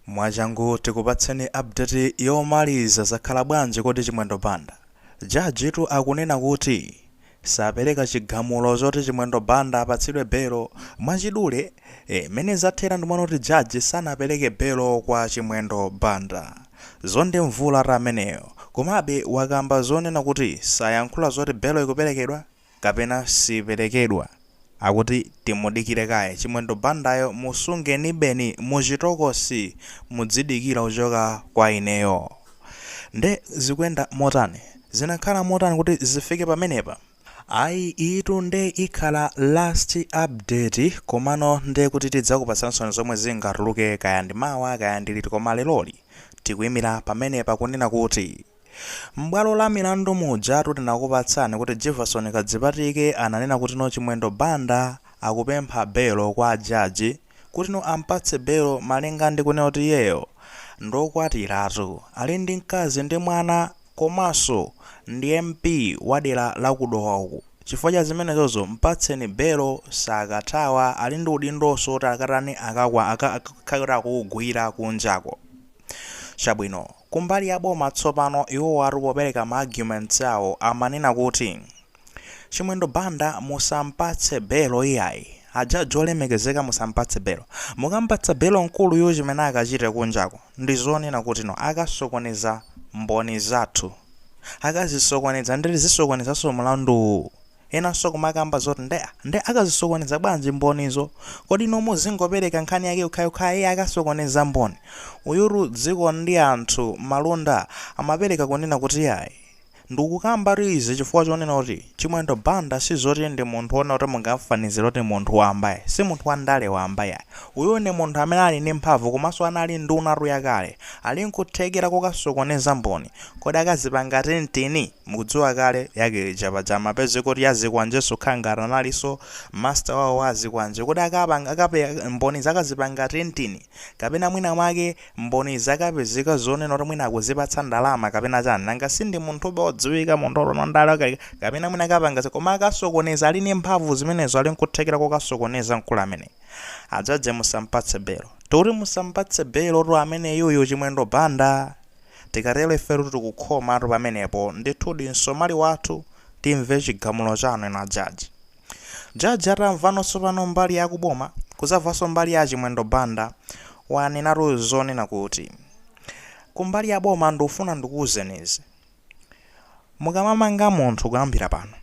Mwachangu tikupatseni update yomaliza zakhala bwanji kodi Chimwendo Banda? Judge tu akunena kuti sapereka chigamulo choti Chimwendo Banda apatsidwe belo mwachidule ee mmene zathera ndi monga kuti judge sanapereke belo kwa Chimwendo Banda Zondiwe Mbvundula tu ameneyo komabe wakamba zonena kuti sayankhula zoti belo ikuperekedwa kapena siiperekedwa akuti timudikire kaye chimwendo bandayo musungenibe muchitokosi mudzidikira kuchoka kwa ineyo nde zikuyenda motani zinakhala motani kuti zifike pamenepa ayi iyitu nde ikhala last update komano nde kuti tidzakupatsansoni zomwe zingatuluke kaya ndi mawa kaya ndi liti koma leloli tikuimira pamenepa kunena kuti. M'bwalo la milandu mujatu tinakupatsani kuti Jivason Kadzipatike ananena kutino Chimwendo Banda akupempha belo kwa jaji kutino ampatse belo malinga ndi kunena kuti iyeyo ndiokwatiratu, ali ndi mkazi ndi mwana komanso ndi MP wadera la ku Dowa uku. Chifukwa cha zimenezozo mpatseni belo sakathawa ali ndi udindonso oti akatani akakwa aka akakhale kuti akuugwira kunjako. Chabwino. Kumbali ya boma tsopano iwowatu popereka ma arguments awo amanena kuti Chimwendo Banda musampatse belo iyayi, a judge olemekezeka musampatse belo, mukampatsa belo mkuluyu chimene akachite kunjako ndi zonena kuti no akasokoneza mboni zathu, akazisokoneza ndiye zisokonezanso mlanduwu. Enanso kumakamba zoti nde nde akazisokoneza bwanji mbonizo kodi inu muzingopereka nkhani yake yokhayokha iye akasokoneza mboni uyutu Dzikondianthu Malunda amapereka kunena kuti yayi ndikukambatu izi chifukwa chonena kuti chimwendo banda sizoti ndi munthu wonena kuti mungamfanizire kuti munthu wamba yayi si munthu wa ndale wamba yayi uyu ndi munthu amene ali ndi mphamvu komanso anali ndunatu ya kale ali nkuthekera kokasokoneza mboni kodi akazipanga threaten Mukudziwa kale yake lija paja amapezeka kuti ya zikwanjenso kukhala ngati analinso master wawo wa azikwanje kodi akapanga akape mboni akazipanga threaten kapena mwina mwake mboni zakapezeka zonena kuti mwina akuzipatsa ndalama kapena chani nanga sindi munthu uja odziwika munthu wa ndale okay kapena mwina akapanga koma akasokoneza ali ndi mphamvu zimenezo ali nkuthekera kokasokoneza mkulu amene a judge musampatse belo tikuti musampatse belo tu ameneyuyu chimwendo banda Tikatero ifetu tikukhomatu pamenepo, ndithudi msomali wathu, timve chigamulo chanu inu a judge. Judge atamvano tsopano mbali ya kuboma, kuzamvanso mbali ya a Chimwendo Banda, wanenatu zonena kuti. Kumbali ya boma ndufuna ndikuuzeni izi. Mukamamanga munthu kuyambira pano,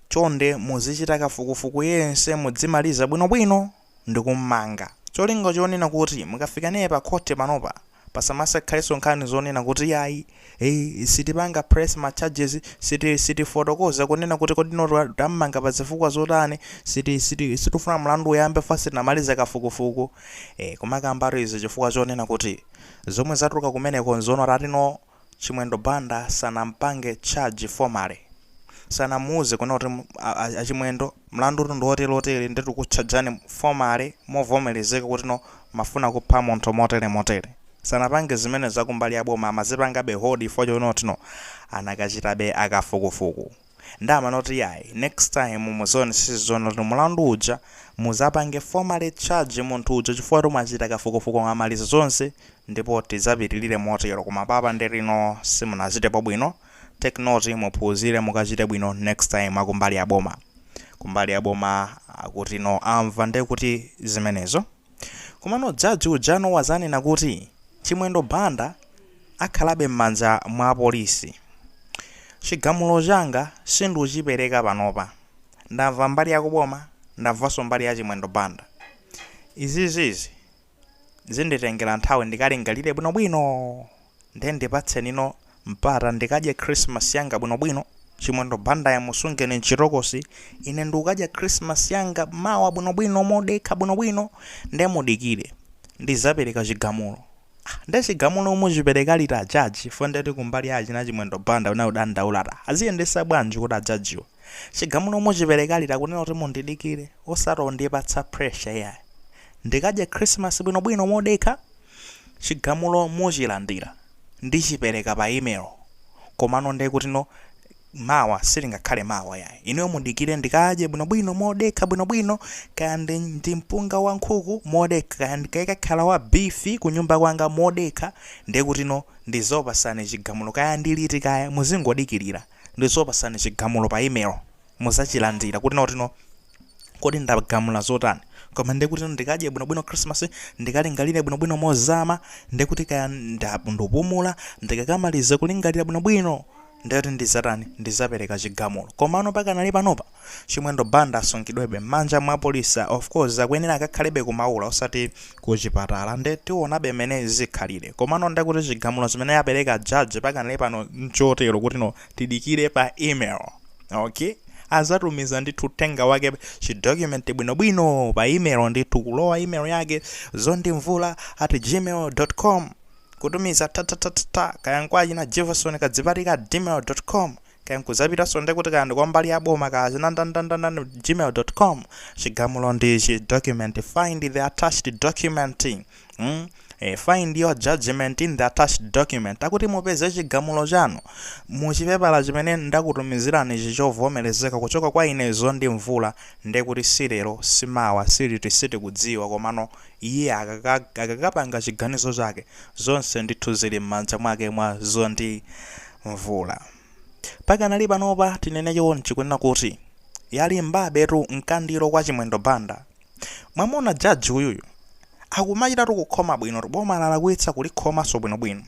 chonde muzichita kafukufuku yense mudzimaliza bwinobwino. ndikummanga. Cholinga chonena kuti mukafika naye pa khothi panopa pasamasakhalenso nkhani zonena kuti iyayi, eeh, sitipanga press ma charges, siti, sitifotokoza kunena kuti kodi no tammanga pa zifukwa zotani, siti, siti, sitifuna mlandu uyambe chifukwa sitinamalize kafukufuku. Eeh, kumakambatu izi chifukwa chonena kuti zomwe zatuluka kumeneko nzoona, tati no. Chimwendo Banda sanampange charge formally. Sanamuuze kunena kuti a Chimwendo mlandutu ndi wotere wotere nde tikukutchajani formally movomerezeka kuti no mumafuna kupha munthu motere motere. Sanapange zimenezo akumbali ya boma amazipangabe hold chifukwa chonena kuti no anakachitabe kafukufuku. Nde amanena kuti yayi next time muzaonesese zonena kuti mulandu uja muzapange formally charge munthu uja chifukwa choti mwachita kafukufuku mwamaliza zonse ndipo tizapitilire motero koma apapa nde kuti no simunachitepo bwino take note muphunzire mukachite bwino next time akumbali yaboma kumbali yaboma akuti no amva nde kuti zimenezo. Komano judge ujano wazanena kuti Chimwendo Banda akhalabe mmanja mwa apolisi. Chigamulo changa sindichipereka panopa. Ndamva mbali ya kuboma, ndamvanso mbali ya Chimwendo Banda. Izizizi zinditengera nthawi ndikalingalire bwinobwino nde ndipatseni no mpata ndikadye Christmas yanga bwinobwino, Chimwendo Bandayo musungeni mchitokosi, ine ndikukadya Christmas yanga mawa bwinobwino modekha bwinobwino, nde mudikire ndizapereka chigamulo. Ah, nde chigamulo muchipereka liti a judge chifukwa ndeti kumbali ya achina Chimwendo Banda kunali kudandaula ati ah, aziyendesa bwanji kuti a judgewa chigamulo muchipereka liti akunena kuti mundidikire osati mondipatsa pressure iyayi ndikadye Christmas bwinobwino modekha chigamulo muchilandira. ndichipereka pa email komano nde kutino mawa silingakhale mawa yayi inuyo mudikire ndikadye bwinobwino modekha bwinobwino kaya ndi, ndi mpunga wa nkhuku modekha kaya ukakhala wa bifi kunyumba kwanga modekha nde kutino ndizakupasani chigamulo kaya ndiliti kaya muzingodikilira ndizakupasani chigamulo pa email muzachilandira kuti no kodi ndagamula zotani koma ndiye kuti ndikadye bwinobwino christmas ndikalingalire bwinobwino mozama ndiye kuti kaya nda- ndapumula ndikakamaliza kulingalira bwinobwino ndiye kuti ndizatani ndizapereka chigamulo komano pakanali panopa chimwendo banda asungidwebe m'manja mwa polisi of course akuyenera akakhalebe ku Maula osati kuchipatala nde tionabe mmene zikhalire komano ndiye kuti chigamulo chimene wapereka jaji pakanali pano nchotero kutino tidikire pa email ok azatumiza ndithu uthenga wake chidocument bwinobwino pa email ndithu kulowa email yake zondimvula at gmail com kutumiza tatatatata kaya nkwachina jivason kadzipatike at gmail com kaya nkuzapitanso nde kuti kaya ndi kwa mbali ya boma kaya china ndandandandani gmail com chigamulo ndi chi document find the attached document Hmm? E, find your judgment in the attached document akuti mupeze chigamulo chanu muchipepala chimene ndakutumizirani chichovomerezeka kuchoka kwa ine zondi mvula nde kuti silero simawa siliti sitikudziwa komano iye akakapanga chiganizo chake zonse ndithu zili m'manja mwake mwa zondi mvula pakanali panopa tinene chonchi kunena kuti yalimbabetu mkandiro kwa chimwendo banda Mwamuona judge uyuyu akumachitatu kukhoma bwinotu boma lalakwitsa kulikhomanso bwinobwino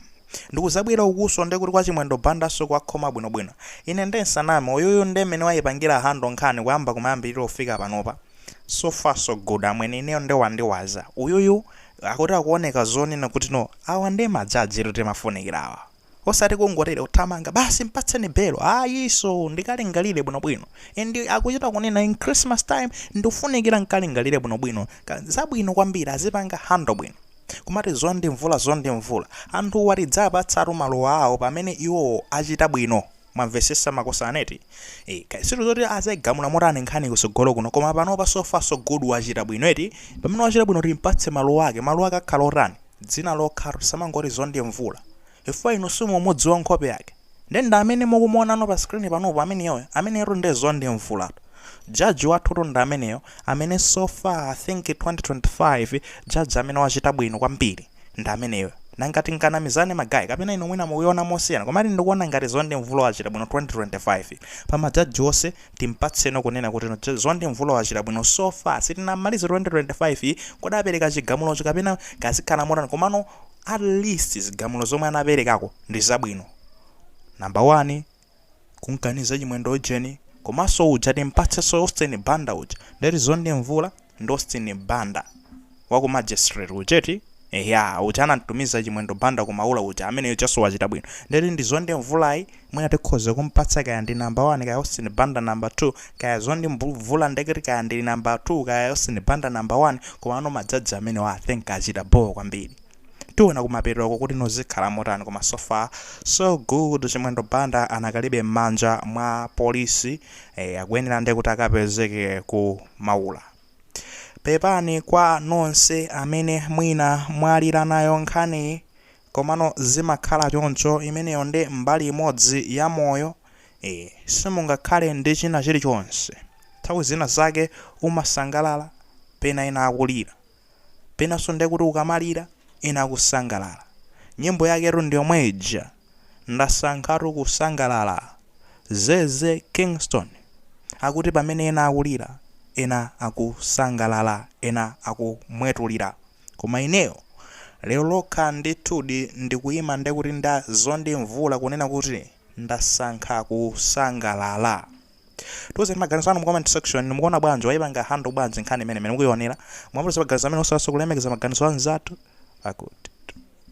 ndikuzabwera ukuso nde kuti kwa Chimwendo Bandaso kuwakhoma bwinobwino ine nde nsaname uyuyu nde mmene waipangira handle nkhani kuyamba kumayambirira kufika panopa so far so good amwene ineyo nde wandiwaza uyuyu akuti akuoneka zonena kuti no awa nde majajitu timafunikira awa. osati kungotero kuthamanga basi mpatseni belo ayiso ndikalingalire bwinobwino and akuchita kunena in christmas time ndikufunikira nkalingalire bwinobwino zabwino kwambiri azipanga handle bwino kumati zondi mvula zondi mvula anthuwa tidzapatsatu maluwa awo pamene iwowo achita bwino Mwamvesesa makosana eti? Eeh kaya sure zoti azagamula motani nkhani kusogolo kuno koma panopa so far so good wachita bwino eti? Pamene wachita bwino timpatse maluwa ake, maluwa ake akhala otani? Dzina lokhalo tisamangoti Zondi Mvula chifukwa inu simumudziwa nkhope yake nde ndi amene mukumuonano pa screen panupo ameneyoyo, ameneyotu nde Zondi Mvulatu. Judge wathutu ndi ameneyo amene so far I think 2025 judge amene wachita bwino kwambiri. ndi ameneyo nanga tinganamizane magayi kapena inu mwina mukuiona mosiyana komati ndikuona ngati zondi mvula wachita bwino 2025 pa majaji onse timpatseno kunena kuti no, zondi mvula wachita bwino so far sitinamalize 2025 kodi apereka chigamulocho kapena kazikhala motani komano at least zigamulo zomwe anaperekako ndi zabwino namba 1 kunkaniza chimwendo ujeni komanso uja timpatsenso austin banda uja ndeti zondi mvula ndi austin banda wa ku magistrate ujeti eya uja anamtumiza chimwendo banda ku maula uja amene ujanso wachita bwino ndeti ndi zondi mvulayi mwina tikhoza kumpatsa kaya ndi namba 1 kaya austin banda namba 2 kaya zondi mbu- mvula nde kuti kaya ndi namba 2 kaya austin banda namba 1 komano majaji amenewa i think achita boo kwambiri tiona kumapetoko kuti nozikhala motani koma so far so good chimwendo banda anakalibe mmanja mwa police eh, akuyenera nde kuti akapezeke ku maula pepani kwa nonse amene mwina mwalira nayo nkhaniyi komano zimakhala choncho imeneyo ndi mbali imodzi ya moyo eh, simungakhale ndi china chilichonse nthawi zina zake umasangalala pena ena akulira Penanso ndiye kuti ukamalira, ena akusangalala. Nyimbo yaketu ndi yomwe ija, Ndasankhatu kusangalala. Zeze Kingston akuti pamene ena akulira, ena akusangalala, ena akumwetulira. Koma ineyo, lero lokha ndithudi ndikuyima ndiye kuti nda zondimvula kunena kuti. Ndasankha kusangalala. Tiuzeni maganizo anu mu comment section, mukuona bwanji? Waipanga handle bwanji nkhani imeneyi? Mmene mukuonera, mwamva za maganizo amene osalanso kulemekeza maganizo a anzathu? Akuti.